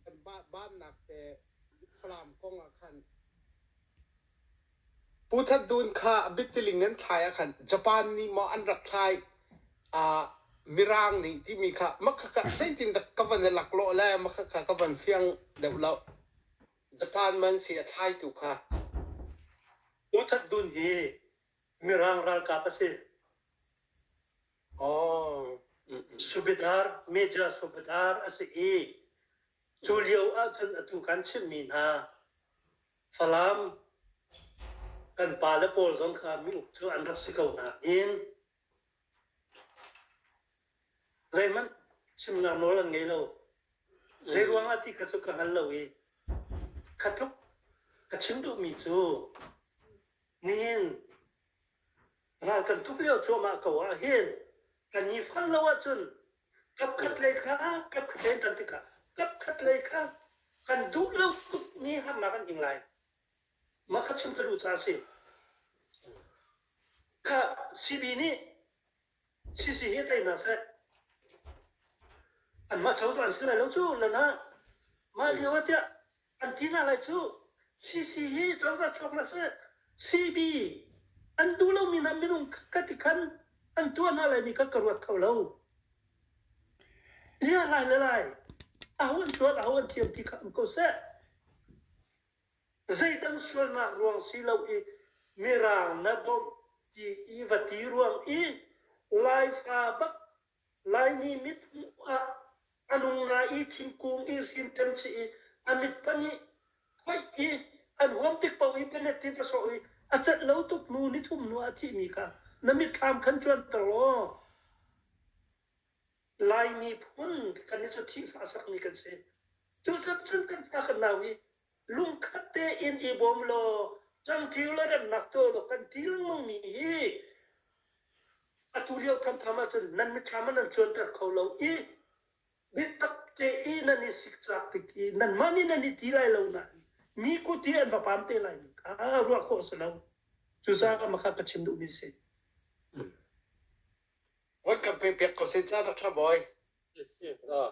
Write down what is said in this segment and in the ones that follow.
Kan bahnak te Falam kong ah khan. Pu That Dun kha a biatiling an thlai ahkhan Japan nih maw an rak thlai ah Mirang nih timi kha Makhakha zeitin dah ka van i laklawh le Makhakha ka van fiang deuh loh. Japan man si a thlaitu kha. Pu That Dun hi Mirang ralkap a si. Oh, mm, mm. Subedar, Major Subedar a si i cu lio ahcun atu kan chimhmi hna Falam kan pale pawl zong kha miuk cu an rak si ko nain zeihmanh chimnak nawl an ngei lo. Zeiruang ah ti kha cu ka hngal lo i kha tluk ka chim duhmi cu nihin ral kan tuk lio cuahmah ko ah hin kan i fal lo ahcun Kapkhatlei kha kapkhatlei kan tikah kapkhatlei kha kan duh lo tukmi harnak an ing lai. Mah kha chim ka duh caah a si. Kha CB nih CC hi tei hna seh. Anmah cozah an si lai lo cu, lan ha. Mah lio ah tiah An ti hna lai cu. CC hi cozah chuaknak a si. CB, An duh lomi hna minung ka ti khan an tuah hna laimi kha ka ruat kho lo. Liahlai le lai, aho an sual aho an thiam ti kha um ko seh. Zeidang sualnak ruang si lo i mirang na bawmh ti i va ti ruang i Laifa bak Laimi mit hmuh ah a nung na i thingkung i hrinṭem chih i a mit pahnih khoih i an huam tik paoh i penetin a sawh i a cat lo tuk nu nithum nu ah a thihmi kha na mitthlam khan cuanter law Lai miphun kan i cu thihfah sakmi kan si. Cucun cun kan fa kan nau i lungkhat tein i bawm law cangṭil le remnak tuah law kan ti lengmangmi hi atu lio ṭhamtham ahcun nan mitthlam ah nan cuanter kho lo i biatak te i nan i sikcak tik i nanmah nih nan i ti lai lo nain mi kut i an va pam te lai mi kha ruah khawh a si lo cucaah makha ka chim duhmi si Vat kan pe pek ko sen ca Dr. Boy. Yes, yes. Uh,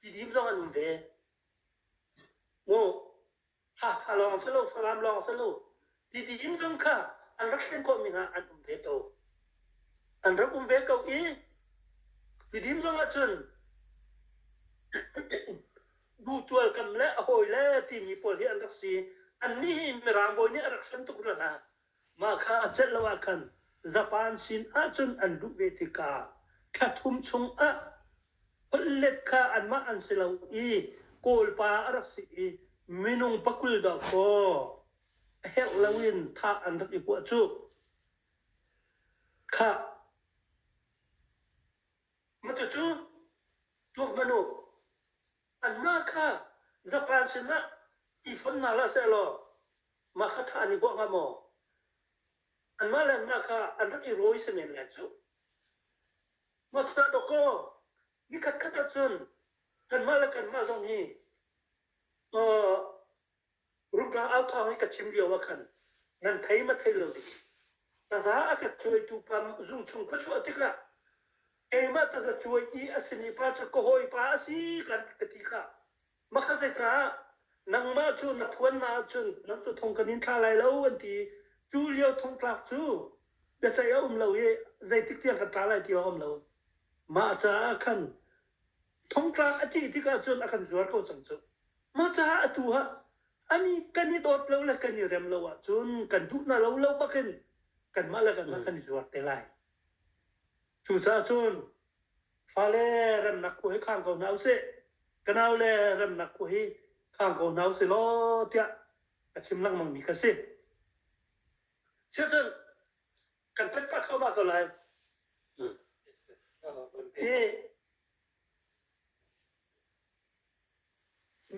Tidip zong an um ve. Mu, Hakha lawng si lo, Fangam lawng si lo, tidip zong kha an rak thlen khawhmi hna an um ve ko. An rak um ve ko i, tidip zong ahcun dutual kam le a hawi le timi pawl hi an rak si. Annih hi Mirang bawi nih a rak hran tuk hna hna. Mah kha a celh lo ahkhan zapan sin ahcun an luh ve tikah thla thum chungah holhlet kha anmah an si lo i Kawlpa a rak si i minung pakul dawhkaw a herh loin thah an rak i huah cuh. Khah! Macucu tuakmanu Anmah kha Japan sinah i fonh hna hlah sehlaw mah kha thah an i huah hnga maw? Anmah le anmah kha an rak i rawi si men lai cu. Mathahdokaw, nikhatkhat ah cun kanmah le kanmah zong hi Ruka authawng i ka chim lioah khan nan thei maw thei lo ding? Taza a ka cuaitu pa zung chung ka chuah tikah keimah taza cuai i a simi pa cu ka hawipa a si kan ka ti kha makha zeicah nangmah cu na phuan hna ahcun nan cu thong kan in thlah lai lo an ti i cu lio thongtlak cu biaceih a um lo i zeitik tiang kan tla lai ti a um lo. Mah caah khan thongtlak a ṭih tik ahcun a kan zuar ko cang cu. Hmacah atu ah ani kan i dawt lo le kan i rem lo ahcun kan duh hna lo lo bak in kanmah le kanmah kan i zuar te lai. Cucaah cun fale remnak khua hi khang ko hna usih, ka nau le remnak khua hi khang ko hna usih law tiah ka chim lengmangmi ka si. Siacun kan pet pah kho ba ko lai. Hi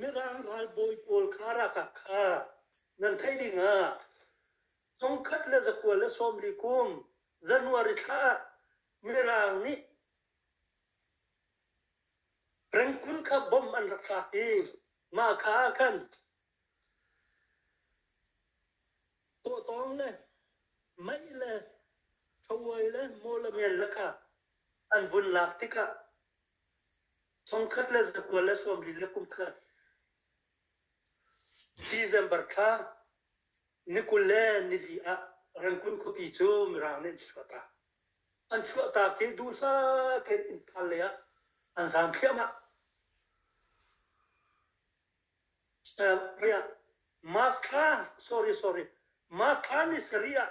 Mirang ralbawi pawl kha ralkap kha nan theih dingah thongkhat le zakua le sawmli kum January thla ah Mirang nih Rangoon kha bomb an rak thlak i mah kha ah khan tawtawng le mei le ṭhavuai le maw le men le kha an vun lak tikah Thongkhat le zakua le sawmlin le kumkhat. December thla ni kul le nili ah Rengkun khuapi cu Mirang nih an chuahtak. An chuahtak i duhsah tein Imphal lei ah an zaam thliahmah. Ri ah March thla, sorry, sorry, March thla ni sarih ah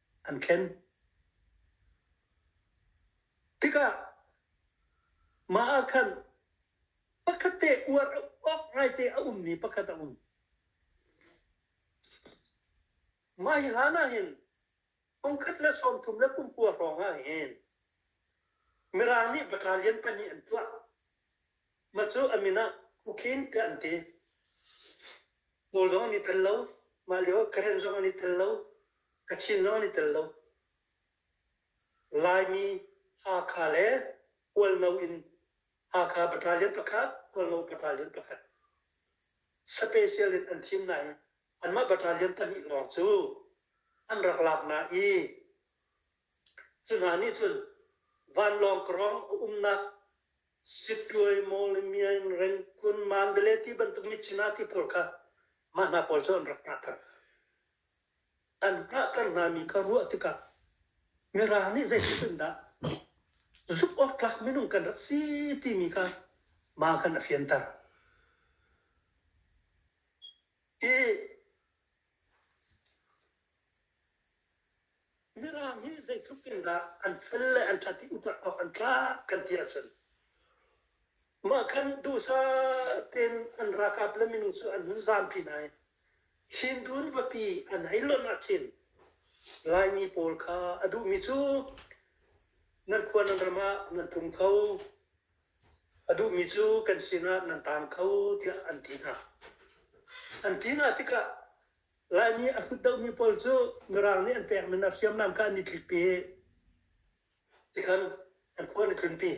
an thlen. Tikah mah ah khan pakhat te uar awk ngaite a ummi pakhat a um. Mah hi hlan ah hin pungkhat le sawmthum le pumkua hrawng ah hin Mirang nih battalion pahnih an tuah. Mah cu a min ah Kukhin tiah an ti. Kawl zong an i tel lo. Mah lio Karen zong an i tel lo. Kachin zong an i tel lo. Laimi, Hakha le Kualno in Hakha battalion pakhat, Kualno battalion pakhat special in an thim hna i anmah battalion pahnih lawng cu an rak lak hna i Cu hna nih cun vanlawng krawng a umnak Sittuai, Mawle, Myain, Rengkun, Mandalay ti bantuk Michina ti pawl kha mah hna pawl cu an rak hnahter. An hnahter hngami kha ruah tikah Mirang nih zeitindah zumh awk tlak minung kan rak si timi kha mah khan a fianter. Hi Mirang hi zeitluk in dah an fel le an ṭhat i upat awk an tlak kan ti ahcun mah khan duhsah tein an ralkap le minung cu an hun zaampi hna i Chin dun vapi an hei lonh ah khin Laimi pawl kha a duhmi cu nan khua nan ram ah nan tlung kho a duhmi cu kan sinah nan taang kho tiah an ti hna. An ti hna tikah Lai nih a hlutdohmi pawl cu Mirang nih an pekmi na hriamnam kha an i tlikpi i tikhan an khua an i tlunpi.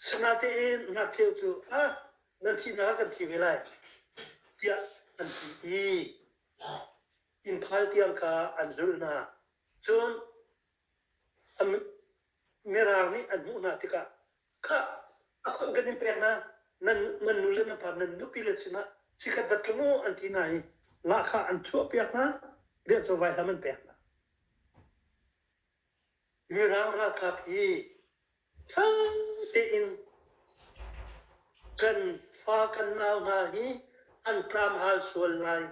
Sinatein ngakcheu cu ah nan thih hna kan thi ve lai tiah an ti i inn phal tiang kha an zulh hna. Cun Mirang nih an hmuh hna tikah, khah, a khon kan in pek na, nan nan nule na par nan nupi le sinah cikhat vat ka mu an ti hna i lahkhah an chuahpiak hna, biachawvai hlam an pek hna. Mirang ralkap hi ṭha tein kan fa kan nau hna hi an tlam hal sual lai.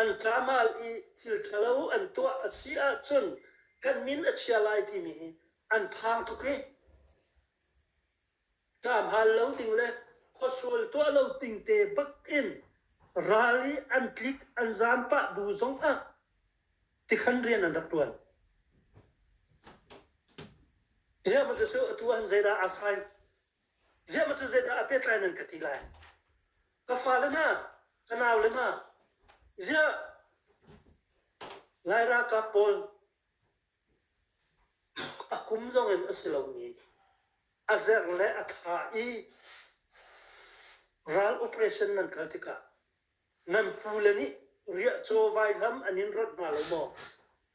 An tlam hal i thil ṭhalo an tuah a si ahcun kan min a chia lai timi hi an phang tuk hi. Tlam hal lo ding le khuasual tuah lo ding te bak in ral i an tlik an zam pah bu zong ah tikhan rian an rak ṭuan. Ziahmah cu atu ahhin zeidah aa sai? Ziahmah cu zeidah a pehtlai nan ka ti lai? Ka fale ma, ka naule ma, ziah Lai ralkap pawl a kum zongin a si lomi a zer le a thlah i ral operation nan kal tikah nan pule nih riah caw vai hlam an in rat hnga lo maw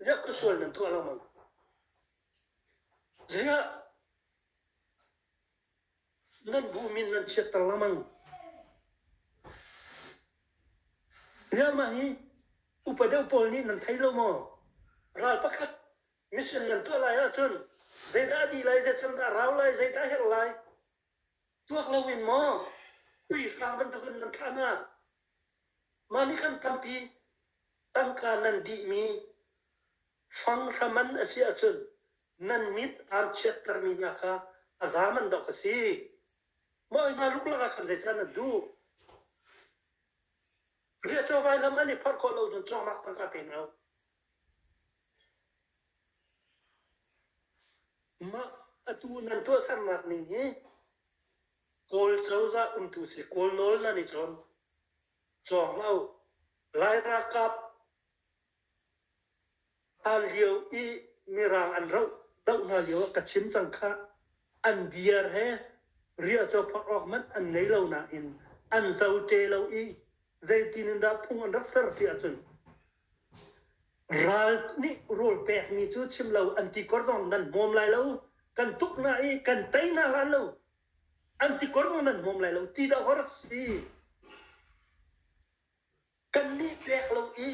ziah ka sual nan tuah lo mang ziah nan bu min nan chiatter lo mang ziah mah hi upa deuh pawl nih nan thei lo maw ral pakhat mission nan tuah lai ahcun zeidah a di lai zeican dah rau lai zeidah herh lai Tuak lo in maw uihrang bantukin nan thlah hna. Mah nih kan tampi tangka nan dihmi fang hraman a si ahcun nan mit aan chiattermi hna kha a zaam an dawk a si. Mah oi hna luklak ah khan zeicah na duh? Riahcaw vailam an i phorh khawh lo cun cawngnak tangka pe hna u. Mah atu nan tuahsernak ning hi Kawl cozah umtu si Kawl nawl nan i cawm. Cawng hlah u. Lai ralkap hlan lio i Mirang an roh doh hna lio ah ka chim cang khah. An beer he riahcawphaak awk hmanh an ngei lo nain an zote lo i zeitin in dah phung an rak ser ti ahcun Ral nih rawl pekmi cu chim lo an ti kor zong nan hmawm lai lo. Kan tuk hna i kan tei hna hran lo. An ti kor zong nan hmawm lai lo ti dah hor a si. Kannih pek lo i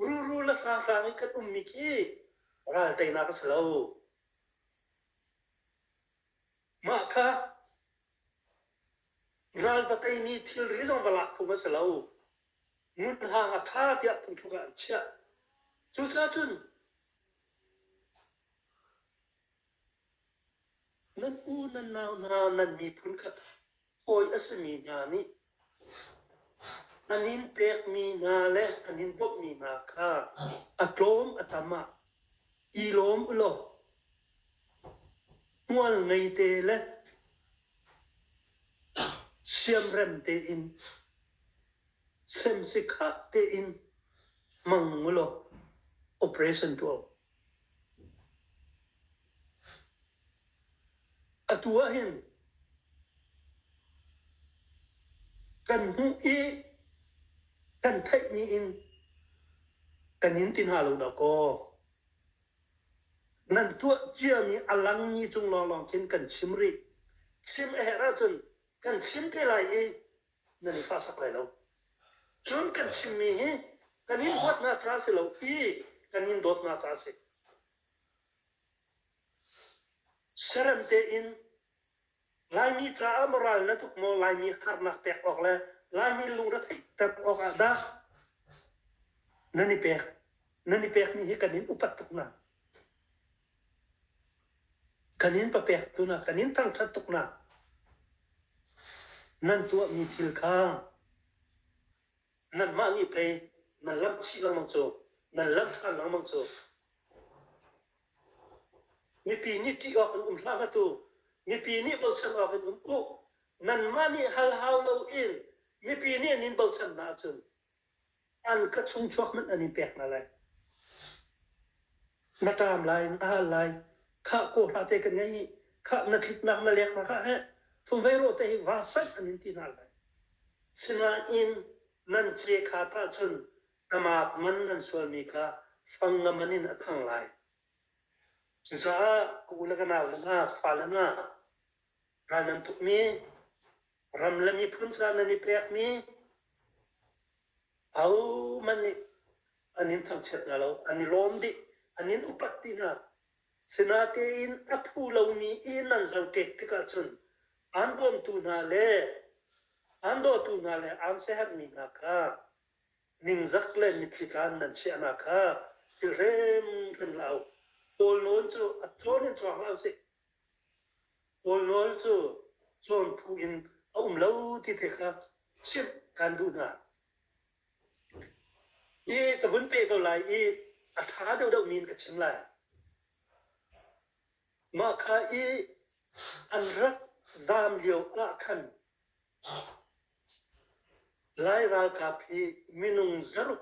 ruru le hranghrang i kan ummi khi ral teinak a si lo. Mah kha Ral va tei mi thilri zong va lak phung a si lo. Ngunhrang a tha tiah phungthluk ah an chiah. Cucaah cun nan u nan nau hna nan miphun kha fawi a simi hna nih An inn pekmi hna le an inn bawmhmi hna kha a tlawm a tam ah i lawm u law hmual ngeite le siamrem tein semsikhah tein hmang u law operation tuah u. Atu ahhin kan hmuh i kan theihmi in kan in ti hna lo dah kaw nan tuah ciami a langmi cung lawnglawng khin kan chim rih. Chim a herh ahcun kan chim te lai i nan i hlahsak lai lo. Cun kan chimmi hi kan in huat hna caah a si lo i kan in dawt hna caah a si. Serem tein Laimi caah maw ral na tuk maw Laimi harnak pek awk le Laimi lungretheihter awkah dah nan i pek? Nan i pekmi hi kan in upat tuk hna. Kan in papektu nak kan in thangṭhat tuk nak nan tuahmi thil kha nanmah nih pei nan lamh chih lengmang cu nan lamh ṭhan lengmang cu mipi nih ṭih awk an um hlah ma tu mipi nih bochan awk an um u nanmah nih hal hau lo in mipi nih an in bochan hna ahcun An ka chungchuak hmanh an i pek hna lai. Na ṭam lai, na hal lai. Khah kaw hna te kan ngaih i khah na tliknak na lengnak ah heh chuveirawh te hi vasat an in ti hna lai. Sinain nan cehkhat ahcun amak man nan sualmi kha fangngam an in a thang lai. Cucaah ka u le ka nau le hna, ka fale hna, Ral nan tukmi, ram le miphun caah nan i pekmi, ahohmanh nih an in thangchiat hna lo, an i lawm dih, an in upat dih hna. Sinatein a phu lomi i nan zohkek tikah cun aan bawmtu hna le aan dawtu hna le aan siaherhmi hna kha ningzak le mitthli tlan nan chiahna kha i hrimhrim hlah u. Kawl nawn cu a cawn in cuang hlah u sih. Kawlrawl cu cawn phu in a um lo ti te kha chimh kan duh hna. Hi ka vun pe ko lai i a ṭha deuhdeuh min ka chim lai. Mah kha i an rak zaam lio ah khan Lai ralkap hi minung zaruk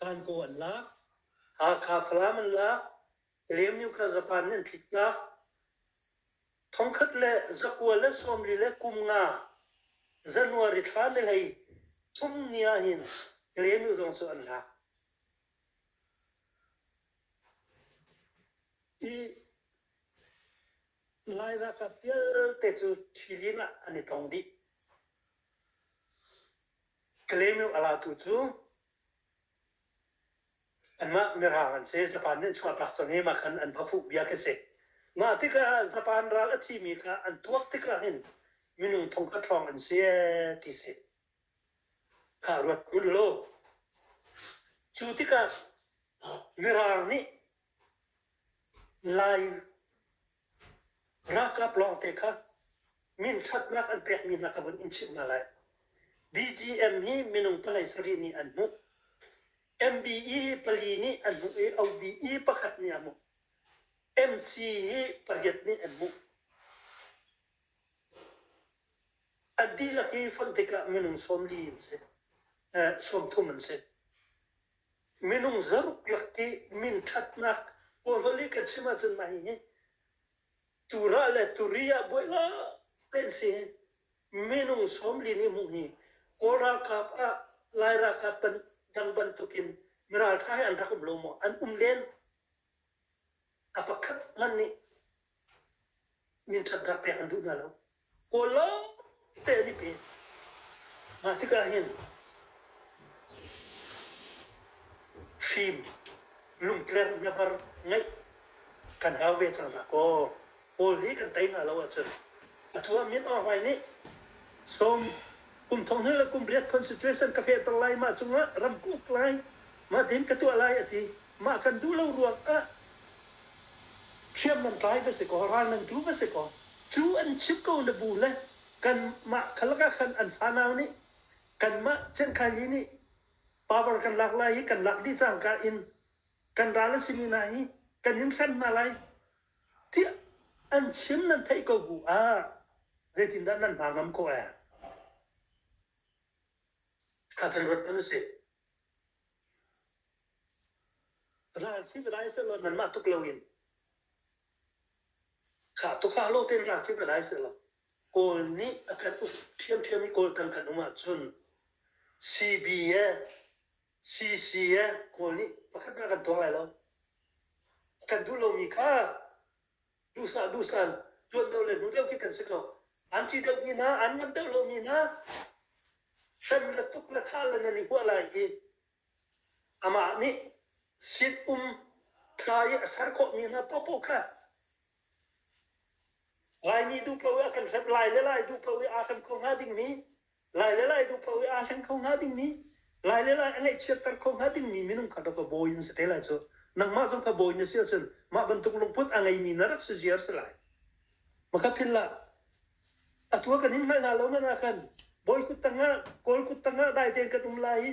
Tankaw an lak. Hakha Falam an lak. Liamnyu kha Japan nih an tliktak. Thongkhat le zakua le sawmli le kum nga January thla ni hlei thum ni ahhin Liamnyu zong cu an lak. I Lai ralkap vialte cu Ṭhilin ah an i tong dih. Kalaymyo a latu cu anmah mirang an si. Japan nih an chuahtak cang i mah khan an va fuh bia khi a si. Mah tikah Japan ral a thimi kha an tuak tikah hin minung thongkhat hrawng an si ee ti si. Kha ruat hmanh law cu tikah mirang nih Lai Ralkap lawngte kha minṭhatnak an pekmi hna kha vun in chimh hna lai. BGM hi minung palei sarih nih an hmuh. MBE pali nih an hmuh i OBE pakhat nih a hmuh. MC hi pariat nih an hmuh. An dihlak hi fonh tikah minung sawmli in si, sawm thum an si. minung zaruk lak i min thatnak kawhlol i kan chim ahcun mah hi tura le turi ah buai la tein si minung sawmli ni hmuh hi kawl ralkap ah lai ralkap dang bantuk in miraltha he an rak um lo maw an um len A pakhat hmanh nih minṭhatnak pek an duh hna lo. Kawl lawngte an i pe. Mah tikah hin fim, lungtlerh, nyabar ngeih kan hau ve cang hlah kaw. Paul hi kan tei hna lo ahcun atu ah Myanmar hmai nih sawm kum thonghnih le kum pariat constitution ka fehter lai, mah cungah ram ka uk lai, mah tein ka tuah lai a ti. Mah kan duh lo ruangah hriam nan tlai va si kaw, ral nan tu va si kaw, cu an chimh ko na bu le kanmah kha lakah khan an fanau nih kanmah cengkhaili nih power kan lak lai i kan lak dih cangka in kan ral a simi hna hi kan in hrem hna lai, Tiah an chim nan theih ko bu ah zeitindah nan hna ngam khawh ee? Kha kan ruat kan si. Ral thip lai selo nanmah tuk loin khah tukha lo ten ral thip lai selo Kawl nih a kan uk ṭhiamṭhiam i Kawl tang kan um ahcun CBA CCA Kawl nih pakhat hmanh kan tong lai lo. A kan duh lomi kha duhsah duhsaan tuan deuh le hmu deuh khi kan si ko. An ṭih deuhmi hna, an ngam deuh lomi hna hrem le tuk le thah le nan i huah lai i amah nih sit um tha i a ser khawhmi hna paohpaoh kha Laimi duh paoh i a kan hrep lai le lai duh paoh i aa hrem kho hnga dingmi, lai le lai duh paoh i aa hleng kho hnga dingmi, lai le lai a ngaihchiatter kho hnga dingmi minung kha rak va bawi in si te lai cu. Nangmah zong kha bawi na si ahcun mah bantuk lungput a ngeimi na rak si ziar si lai. Makaphinlah, atu kan in hngalh hna lo man ah khan bawi kut tangah kawl kut tangah dai tein kan um lai i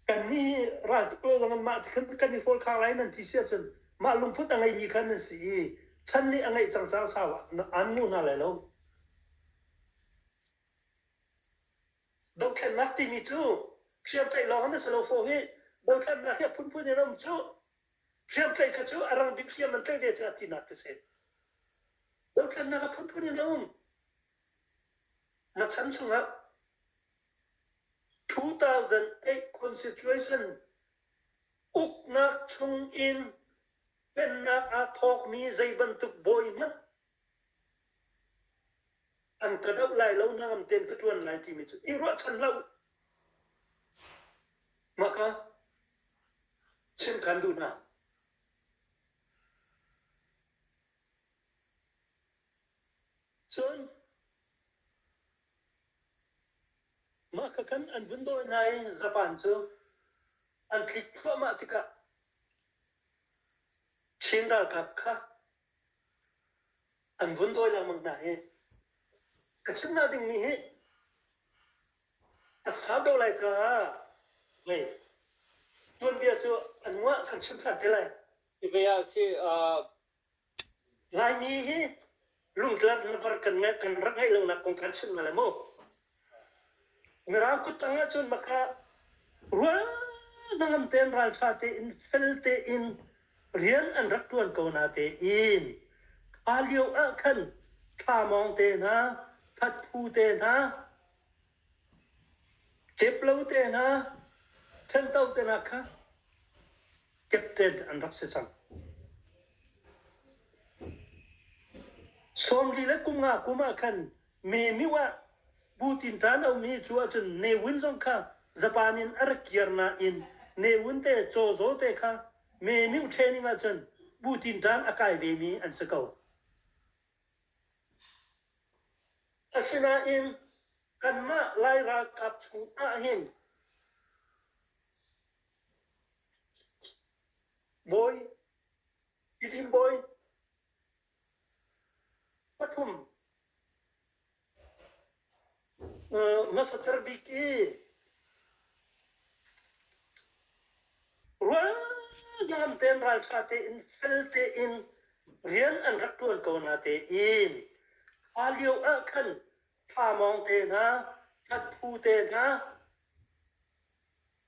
kan ni ral tuk lo zong mah ti khan kan i fawl khar lai nan ti si ahcun mah lungput a ngeimi khan nan si i chan nih a ngeih cang cang sau an lu hna lai lo dothlennak timi cu hriamtlaih lawng na si lo fo hi bawitlannak hi a phunphun in a um cuh Hriamtlaih kha cu a rang biakhiam an tlaih ve caah tinak ka si. Dothlennak a phunphun in a um. Na chan chungah 2008 constitution uknak chung in pennak aa thawkmi zei bantuk bawi hmanh an ka doh lai lo hnangam ten ka ṭuan lai timi cu i ruahchan hlah u. Mah kha chimkhan duh hna. Cun mah kha khan an vun dawi hna i zapan cu an tlik thluahmah tikah Chin ralkap kha an vun dawi lengmang hna hi ka chim hna dingmi hi a sau deuh lai caah hei tuanbia cu an nguah kan chim than te lai Hivi ah si uh, Laimi hi lungtlang hlavar kan ngai kan rak ngeih lo nak kong kan chim na le mu Mirang kuttang ahcun makha rual hnangam tein ralṭha tein fel tein rian an rak ṭuan ko na tein kha lio ah khan thlamawng te hna, thatphu te hna, keplo te hna, ṭhento te hna kha captain an rak si cang. Sawmli le kum nga kum ah khan Mehmih ah Bu tinṭan a ummi cu ahcun Ne Win zong kha Japan in a rak kir nain Ne Win te Cho Zaw te kha mehmih training ahcun Bu tinṭan a kai vemi an si ko. Asinain kanmah Lai ralkap chungah hin bawi, Tidim bawi, Hmasater bik i rualban tein ralṭha tein fel tein rian an rak ṭuan ko hna tein a lio ah khan thlamawng te hna, ṭhatphu te hna,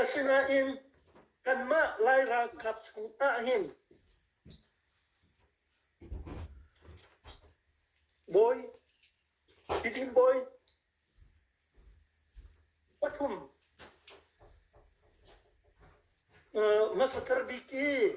Asinain kanmah Lai ralkap chungah hin bawi, tidin bawi pathum hmasathar bik i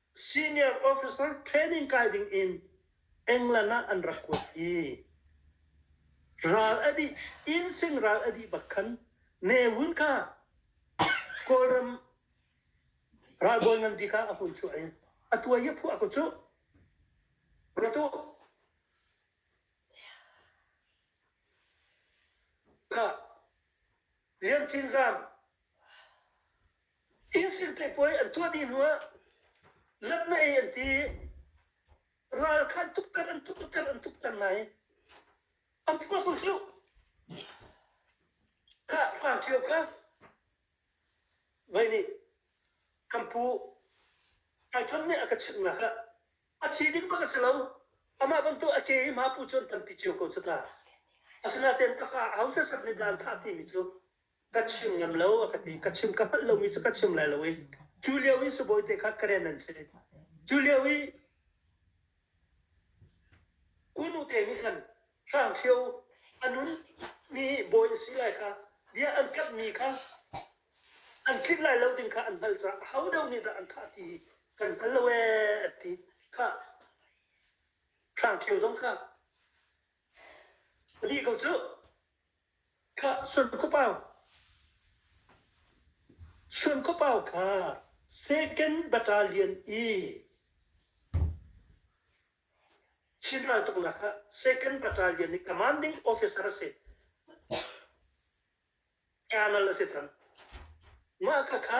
Senior officer training kai ding in England ah an rak kuat i ral a dih Insing ral a dih bak khan Ne Wun kha Kawlram ralbawi ngan bik ah a hun chuah i a tuai i phuah ko cu ruat u Lian Cin Zam Israel theipuai an tuah dih hnuah zatnei an ti. Ral kha an tukter, an tukter, an tukter hna i an apostle cu kha hrang ṭhio kha voi nih kan pu ai chon nih a ka chimh hna kha a thi ding bak a si lo amah bantuk a ke i hma pu cu an tampi cio ko cu ta asinain taka hausa sak nih dan thah timi cu ka chim ngam lo a ka ti ka chim ka hngalh lomi cu ka chim lai lo i cu lio i sibawi te kha karen an si cu lio i kunu te nih khan hrang thio a nun mi bawi a si lai kha bia an kamh mi kha an tlinh lai lo ding kha an hngalh caah ho deu nih dah an thah ti kan hngal lo ee a ti kha hrang thio zong kha pali ko cu Suankhuapau kha second battalion i Chin raltuknak ah second battalion i commanding officer a si. Colonel a si cang. Mah khakha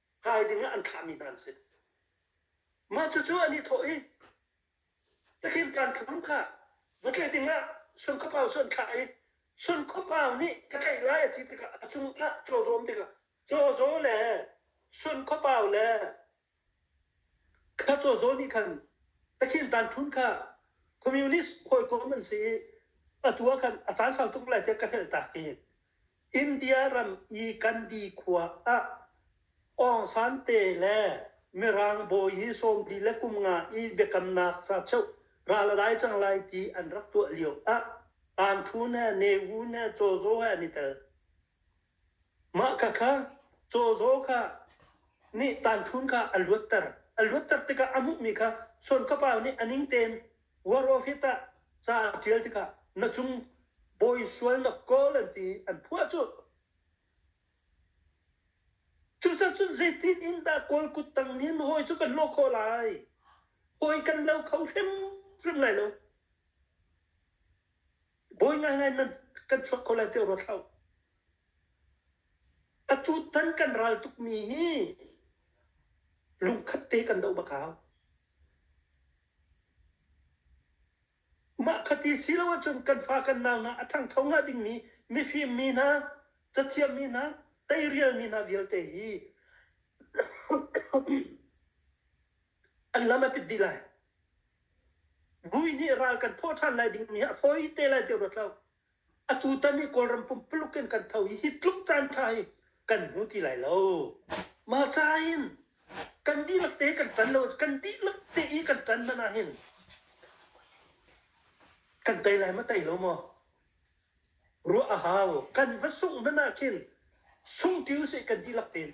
kai dingah an thahmi hna an si. Mah cucu an i thawh i, Takim kan thum kha va tlaih dingah Sun Khuapau cu an thlah i Sun Khuapau nih ka tlaih lai a ti tikah a cung ah caw zawm tikah caw zaw le Sun Khuapau le kha caw zaw nih khan Takin tan thun kha communist hawikom an si i atu ah khan a caan sau tuk lai tiah ka hngalh ta hi India ram i Gandhi khua ah Aung San te le Mirang bawi hi sawmli le kum nga i biakamnak sa cheuh ral a dai cang lai ti an rak tuah lio ah Anṭhu ne, Newu ne, Cawzaw he an i tel. Mah khakha Cawzaw kha nih Tanṭhun kha a luatter. A luatter tikah a hmuhmi kha Suan Kapa nih a ning tein Ruahrawhrit ah ca a ṭial tikah na cung bawi sual na kawl an ti i an phuah cuh. Cucacun zeitin in dah kawl kut tang nih na hawi cu kan lawh khawh lai? Hawi kan lo kho hrimhrim lai lo. Bawi ngaingai nan kan chuak kho lai ti ruat hlah. Atu tan kan ral tukmi hi lungkhat te kan doh bak hau. Mah kha ti si lo ahcun kan fa kan nau hna a ṭhangcho hnga dingmi mifim mi hna, cathiam mi hna, teirial mi hna vialte hi an lam a pit dih lai. Bui nih ral kan thawh ṭhan lai dingmi hi a fawi te lai ti ruat lo. Atutan hi Kawlram pumpuluk in kan tho i hi tluk caan ṭha hi kan hmu ti lai lo. Mah ca in kan dihlak te kan ṭan lo kan dihlak te i kan ṭan hmanh ahhin kan tei lai ma tei lo maw? Ruah a hau. Kan va sungh hmanh ahkhin sung ṭi usih kan dihlak tein.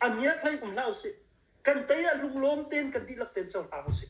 A miak hlei um hlah usih. Kan tei ah lunglawm tein kan dihlak tein cohlang usih.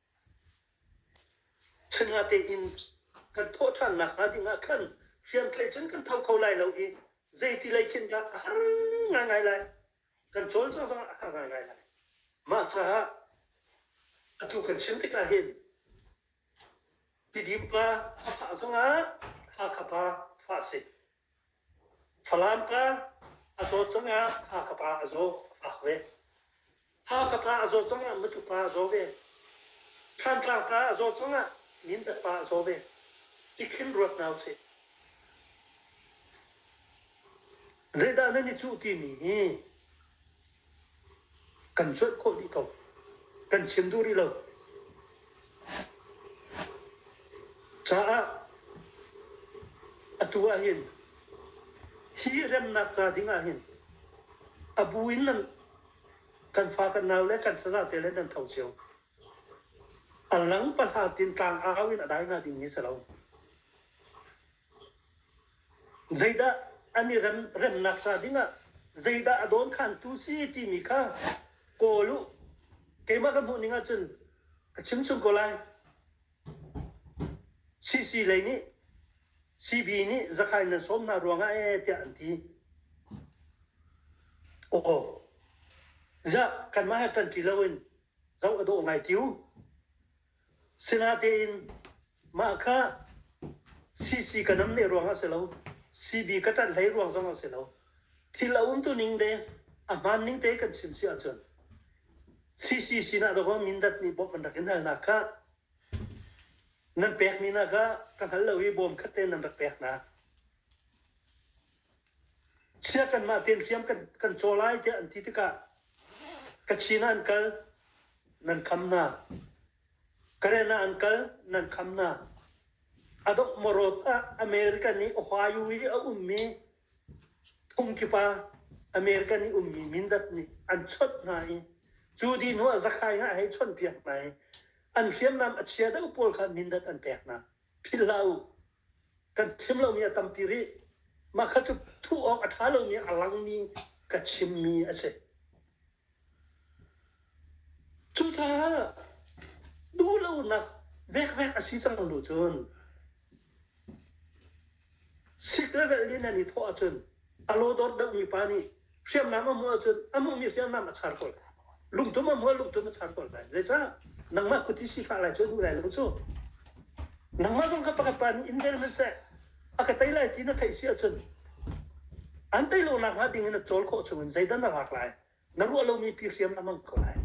Chunha tein kan thawhṭhannak hnga ding ah khan hriamtlaih cun kan tho kho lai lo i zeiti lei khin dah a har ngaingai lai. Kan cawl cang zongah a har ngaingai lai. Mah caah atu kan chim tikah hin tidim pa a fah zongah Hakha pa fah a si. Falam ka a zawt cungah Fa ka pa a zaw a fak ve. Fa ka pa a zawt cungah matu pa a zaw ve. Thantla ka a zawt cungah mindat pa a zaw ve. Tikhin ruat nau sih. Zeidah nan i cuh timi hi kan cuanh khawh dih ko. Kan chim duh rih lo. Caah atu ahhin hi remnak ca ding ahhin a bu in nan kan fa kan nau le kan saza te le nan tho cio. A lang pahla tin tlang au in a dai hna dingmi si lo. Zeidah an i rem, remnak ca dingah zeidah a dawnkhantu si timi kha kawl u. Keimah ka hmuhning ahcun ka chimchung ko lai. CC lei nih CB nih zakhain nan sawm hna ruangah ee tiah an ti. Aw, ziah kanmah he kan ṭi loin zoh a dawh ngai ti u. Sinatein mah kha CC ka nam ne ruang ah a si lo, CB ka ṭanh hlei ruang zong a si lo. Thil a umtuning le a hmaan ning te kan chim si ahcun CC sinah dawng Mindat nih bawmh an rak in halnak kha nan pekmi hna kha ka hngal lo i bawm khat te nan rak pek hna. Chiah kanmah tein hriam kan caw lai tiah an ti tikah Kachin ah an kal nan kham na Karen ah an kal nan kham na a dok morot ah America nih Ohio i a ummi thum kipa America nih ummi Mindat nih an chawnh hna i cu dih hnu ah Zakhai nga hei chawnhpiak hna i an hriamnam a chia deuh pawl kha Mindat an pek hna philh hlah u kan chim lomi a tampi rih. Mah kha cu thuh awk a ṭha lomi a langmi ka chimmi a si. Cucaah duhlonak vekvek a si cang bu cun sik level in nan i thawh ahcun a law dawt dammi pa nih hriamnam a hmuh ahcun a hmuhmi hriamnam a char colh. Lungtum a hmuh ah lungtum a char colh lai. Zeicah? Nangmah kut i sifah lai cu a duh lai lo cu. Nangmah zong kha pakhat pa nih in vel hmanh seh, a ka tei lai ti na theih si ahcun an tei lo nakhnga ding in na cawl khawh chungin zeidah na lak lai? Na ruah lomi pi hriamnam a hmang kho lai.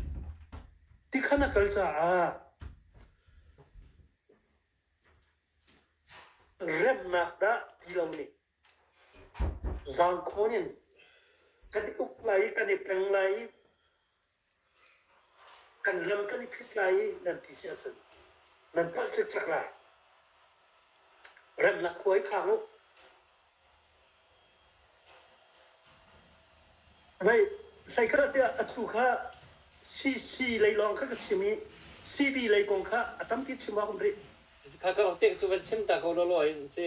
Ti kha na kal caah remnak dah ti lo nih Zaang khawn in kan i uk lai i kan i tleng lai i kan lam kan i phit lai i nan ti si ahcun nan palh cikcek lai. Remnak khua i khang u. Hei, hleikhahtiah a tu kha CC lei lawng kha ka chim i CB lei kong kha a tampi chim awk um rih. Kha ka uk tik cu van chim ta ko lawlaw in si.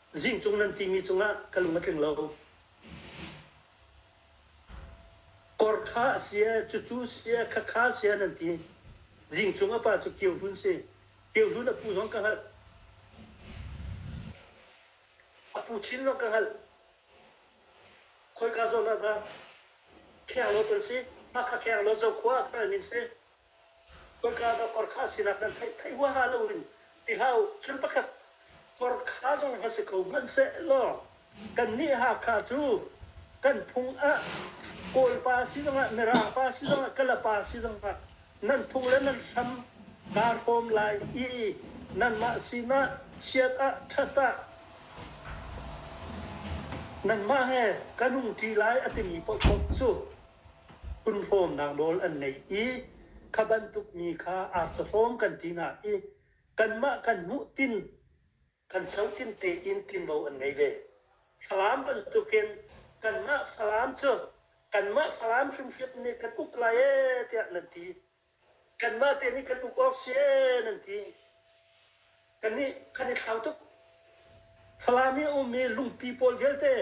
Zing cung nan timi cungah ka lung a tling lo. Korkha a si e, cucu si e, khakha si e nan ti. Ling cung a pa cu Kio Hlun si. Kio Hlun a pu zong ka hngalh. A pu Chin zong ka hngalh. Khoika zawn ah dah Khenglawt an si? Hakha Khenglawt Zokhua ah khan an in si. Tukano kor kha sinak nan theih theih huaha lo in ti hlah u. Thil pakhat kor kha zong va si ko hmanhsehlaw kannih Hakha cu kan phung ah Kawlpa si zongah, Mirangpa si zongah, Kalapa si zongah nan phung le nan hram kaa hrawm lai i nanmah sinah chiat ah ṭhat ah nanmah he kan hung ṭi lai a timi paohpaoh cu Punhlawmnak nawl an ngei i kha bantuk mi kha arcawhlawm kan ti hna i kanmah kan hmuhtin kan chotin tein tinvo an ngei ve. Falam bantukin kanmah Falam cu kanmah Falam hrimhrim nih kan uk lai ee tiah nan ti. kanmah te nih kan uk awk si ee nan ti kan nih kan i thlau tuk Falam i ummi lungpi pawl vialte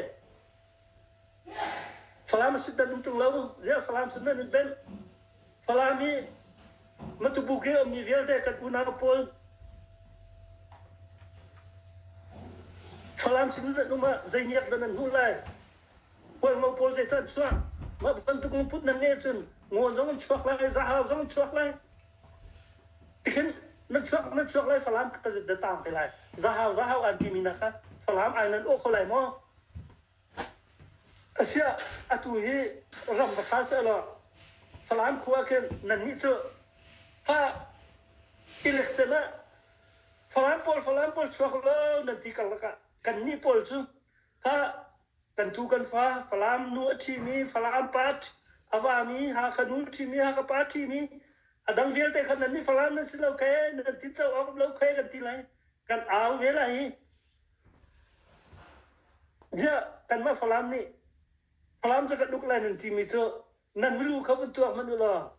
Falam a sit nan um ṭung lo ziah Falam sin nan in benh Falam i Matubuk i ummi vialte kan unau pawl Falam sin nan um ah zei niak dah nan hmuh lai Khualmo pawl zeicah an chuak? Mah bantuk lungput nan ngeih ahcun ngaw zong in chuak lai, zahrau zong in chuak lai. Tikhin nan chuak nan chuak lai Falam ka zit da taang te lai. Zahrau zahrau aan timi hna kha Falam ai nan awh kho lai maw? Asiah, atu hi ram va ṭha sehlaw Falam khua ah khin nannih cu kha election ah Falam pawl Falam pawl chuak law nan ti karlak ah kannih pawl cu Hah! Kan tu kan fa, Falam nu a ṭhimi, Falam part, a vami, Hakha nu ṭhimi, Hakha pa ṭhimi, a dang vialte kha nannih Falam nan si lo khe, nan ti co awk lo khe kan ti lai. Kan au ve lai hi. Ziah, kanmah Falam nih Falam cu kan uk lai nan timi cu nan milu kha vun tuak hmanh u law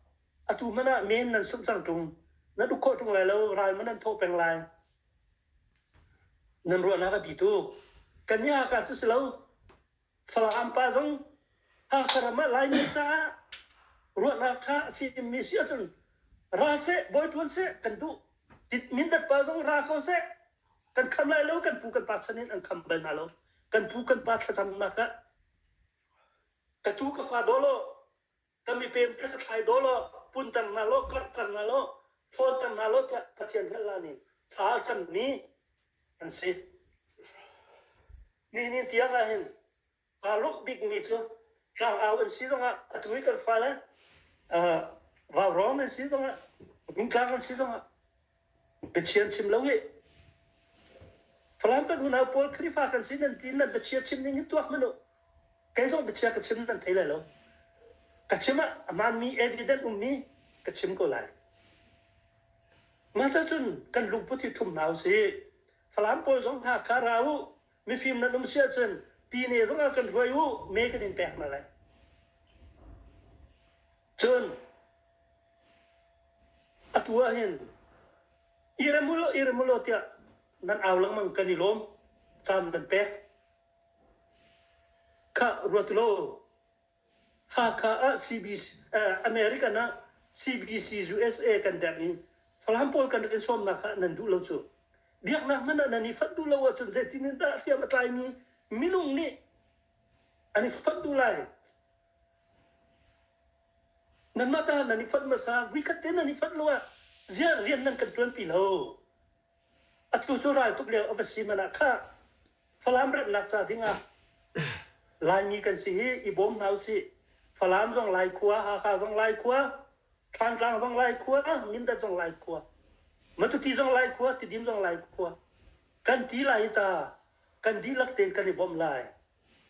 atu hmanh ah men nan sumh cang ṭung. Nan uk khawh ṭung lai lo, ral hmanh an thawh peng lai. Nan ruahnak a bi tuk. Kan i Haka cu si lo. Falam pa zong Haka ram ah Laimi caah ruahnak ṭha a fimmi si ahcun ra seh, bawi ṭuan seh kan duh. Tit- Mindat pa zong ra ko seh. Kan kham lai lo, kan pu kan pa chan in an kham bal hna lo. Kan pu kan pa thlacamnak ah ka tu ka fa dawlaw Kan i pem phasak hlai daw law, puntan hna law, karhter hna law, thawnter hna law tiah Pathian hngalhla nih thla a cammi an si. Nihin tiang ah hin aa lawk bikmi cu tlangau an si zongah atu i kan fale uh, vaurawng an si zongah, mintlang an si zongah Pathian chim lo hi. Falam kan unau pawl Khrihfa kan si nan ti nan bachia chim ning hin tuak manh u. Kei zong bachia ka chim nan thei lai lo. Ka chim ah a hmaanmi evident ummi ka chim ko lai. Mah cah cun kan lungput hi ṭhum hna u sih. Falam pawl zong hna kha ra u. Mifim nan um si ahcun pine zong ah kan hruai u, me kan in pek hna lai. Cun atu ah hin iram ulaw iram ulaw tiah nan au lengmang kan i lawm, caan nan pek. Kha ruat law Hakha ah American ah CBC USA kan derh i Falam pawl kan rak in sawmnak kha nan duh lo cu. Biaknak hmanh ah nan i fonh duh lo ahcun zeitin in dah hriam a tlaimi minung nih an i fonh duh lai? Nanmah ta nan i fonh hmasa, vuikhat te nan i fonh lo ah ziah rian nan kan ṭuanpi lo? Atu cu raltuk lio a va si hmanh ah khah Falam remnak ca ding ah Laimi kan si hi i bawm hna usih. Falam zong Lai khua, Hakha zong Lai khua, Thlantlang zong Lai khua, Mindat zong Lai khua, Matupi zong Lai khua, Tidim zong Lai khua kan ti lai i ta kan dihlak tein kan i bawmh lai.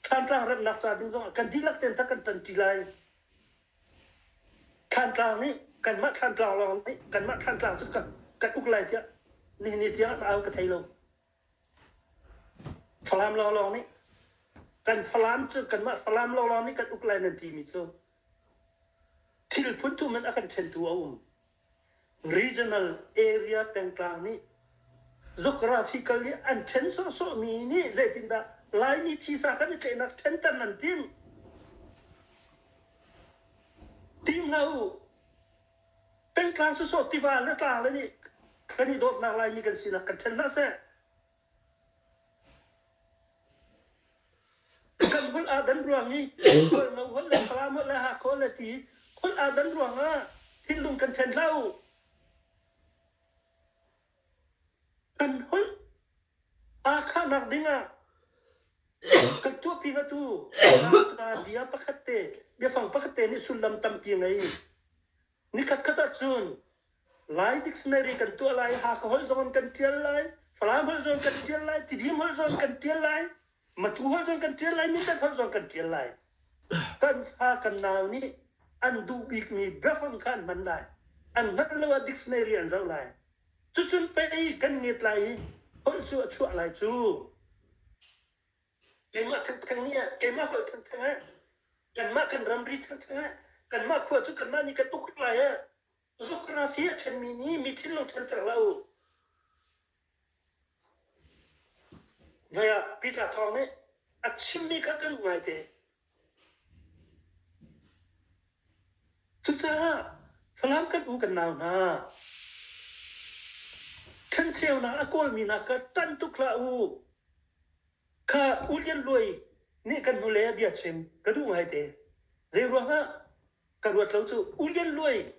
Thlantlang remnak ca ding zong ah kan dihlak tein tha kan ṭanṭi lai. Thlantlang nih kanmah Thlantlang lawng nih kanmah Thlantlang cu kan uk lai tiah nihin ni tiang au ka thei lo. Falam lawnglawng nih kan Falam cu kanmah Falam lawnglawng nih kan uk lai nan timi cu thil phun thum in a kan ṭhentu a um. regional area pengtlang nih geographical i an ṭhen sawhsawhmi nih zeitindah Laimi thisa kan i tlaihnak ṭhenter nan tim? Tim hlah u. Pengtlang sawsawh tiva le tlang le nih kan i dawtnak Laimi kan sinak kan ṭhen hlah seh. Kan holh ah kan ruang i holh ngo, holh le Falam holh le Hakhawl le ti holh ah kan ruang ah thinlung kan ṭhen hlah u. Kan holh aa khahnak ding ah kan tuahpi nga tu ca bia pakhat te, biafang pakhat te nih sullam tampi a ngei. Nikhatkhat ahcun Lai dictionary kan tuah lai, Hakha holh zong an kan ṭial lai, Falam holh zong kan ṭial lai, Tidim holh zong kan ṭial lai, Matu holh zong kan ṭial lai, Mindat holh zong kan ṭial lai. Kan fa kan nau nih an duh bikmi biafang kha an hman lai. An hngalh lo ah dictionary an zoh lai. Cucun pei kan nget lai i holh cu a chuah lai cu. keimah thengtheng nih keimah holh thengtheng ah kanmah kan ramri thengtheng ah kanmah khua cu kanmah nih ka tuk lai ah geography a ṭhenmi nih mithin lo ṭhenter hlah u vaya peter thawng nih a chimmi kha kan duh ngaite Cucaah Falam kan u kan nau hna, ṭhencheunak a kawlmi hna kha ṭan tuk hlah u. Kha U Lian Luai nih kan hnule a bia chim ka duh ngaite. Zeiruangah ka ruat lo cu U Lian Luai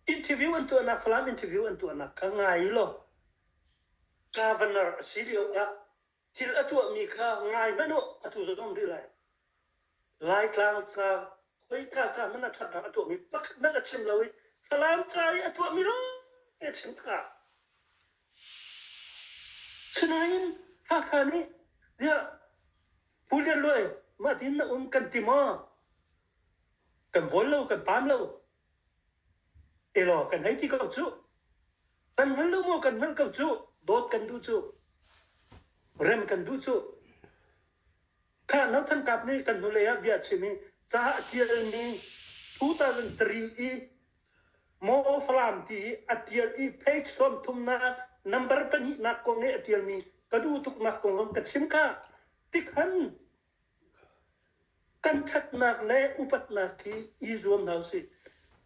interview an tuahnak Falam interview an tuahnak kha ngai u law kaa va nar a si lio ah thil a tuahmi kha ngai hmanh u atu zong rih lai. Laitlang ca, khoika ca hmanh ah ṭhatnak a tuahmi pakhat hmanh a chim lo i Falam ca i a tuahmi lawngte a chim tikah Sinain Hakha nih tiah Pu Lian Luai mah din na um kan ti maw? Kan vol lo, kan pam lo. Elaw kan hei ti ko cuh. Kan hngal lo maw kan hngalh ko cuh. Dawt kan duh cuh. Rem kan duh cuh. Kha no than kap nih kan hnulei ah bia chim i caah tialmi 2003 i Maw Falam ti i a tial i page sawm thumnak number pahnihnak kong i a tialmi ka duh tuknak kong ka chim ka tikhan Kan ṭhatnak le upatnak hi i zuam hna usih.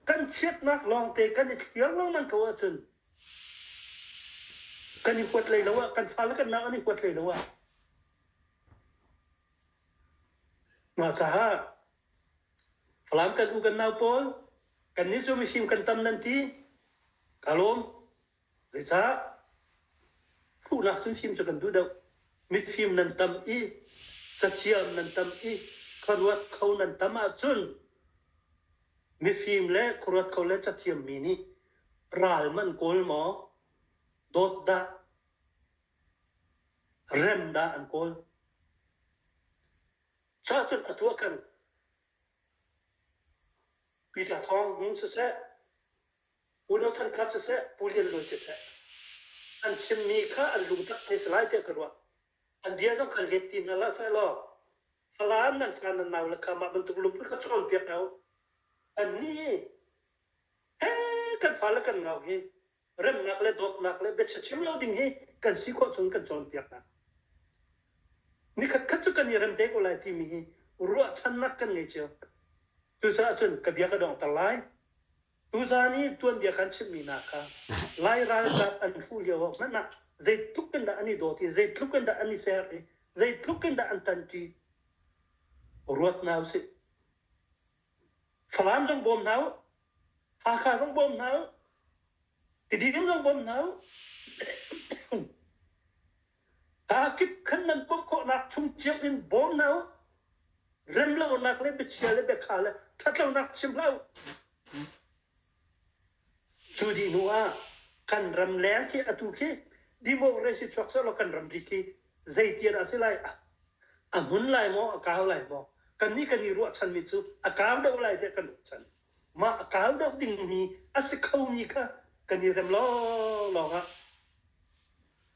Kan chiatnak lawngte kan i thliar lengmang ko ahcun kan i huat hlei lo ah, kan fale kan naak an i huat hlei lo ah mah caah Falam kan u kan nau pawl kan nih cu mifim kan tam nan ti ka lawm. Zeicah? Hmuhnak hrimhrim cu kan duh deuh. Mifim nan tam i cathiam nan tam i khuaruat kho nan tam ahcun mifim le khuaruat kho le cathiam mi nih ral man kawl maw dawt dah rem dah an kawl cahcun atu ah kan Peter thawng hmung siseh Pu No Than Khap siseh, Pu Lian Lun siseh, an chimmi kha an lungtak te si lai tiah ka ruah. An bia zong kha let ti hna la seh law, Falam nan fa nan nau le kha mah bantuk lungput kha cawnpiak hna u. Annih he kan fa le kan nau hi remnak le dawtnak le biachim lo ding hi kan si khawh chung kan cawnpiak hna. Nikhatkhat cu kan i rem te ko lai timi hi ruahchannak kan ngei cio. Cucaah cun ka bia ka dongter lai. Tuzan i tuanbia kan chimhmi hna kha Lai ralkap an hruh lioah hmanh ah zeitluk in dah an i dawt i zeitluk in dah an i ser i zeitluk in dah an tanṭi ruat hna u sih. Falam zong bawm hna u, Hakha zong bawm hna u, Tidim zong bawm hna u, aa kip khan nan pumh khawhnak chung cio in bawm hna u, rem lonak le biachia le biakha le ṭhatlonak chim hlah u. Cu dih hnuah kan ramleng khi atu khi democracy chuak seh law kan ramri khi zeiti dah a si lai? A hmun lai maw? A kau lai maw? Kannih kan i ruahchanmi cu a kau deuh lai tiah kan ruahchan. Mah a kau deuh dingmi a si khomi kha kan i rem lawnglawng ah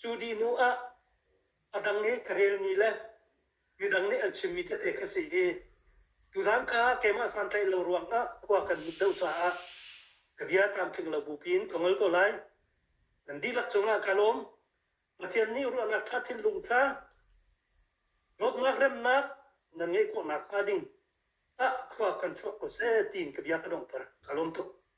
Cu dih hnu ah a dang nih ka relmi le midang nih an chimmi tete ka si i tuzaan kha keimah santlaih lo ruangah khua kan mit deuh caah ka bia tlamtling lo bupi in ka ngol ko lai. Nan dihlak cungah ka lawm. Pathian nih ruahnak ṭha thinlung kha dawtnak remnak nan ngeih khawh nakhnga ding ah khua kan chuak ko seh tiin ka bia ka donghter. Ka lawm tuk.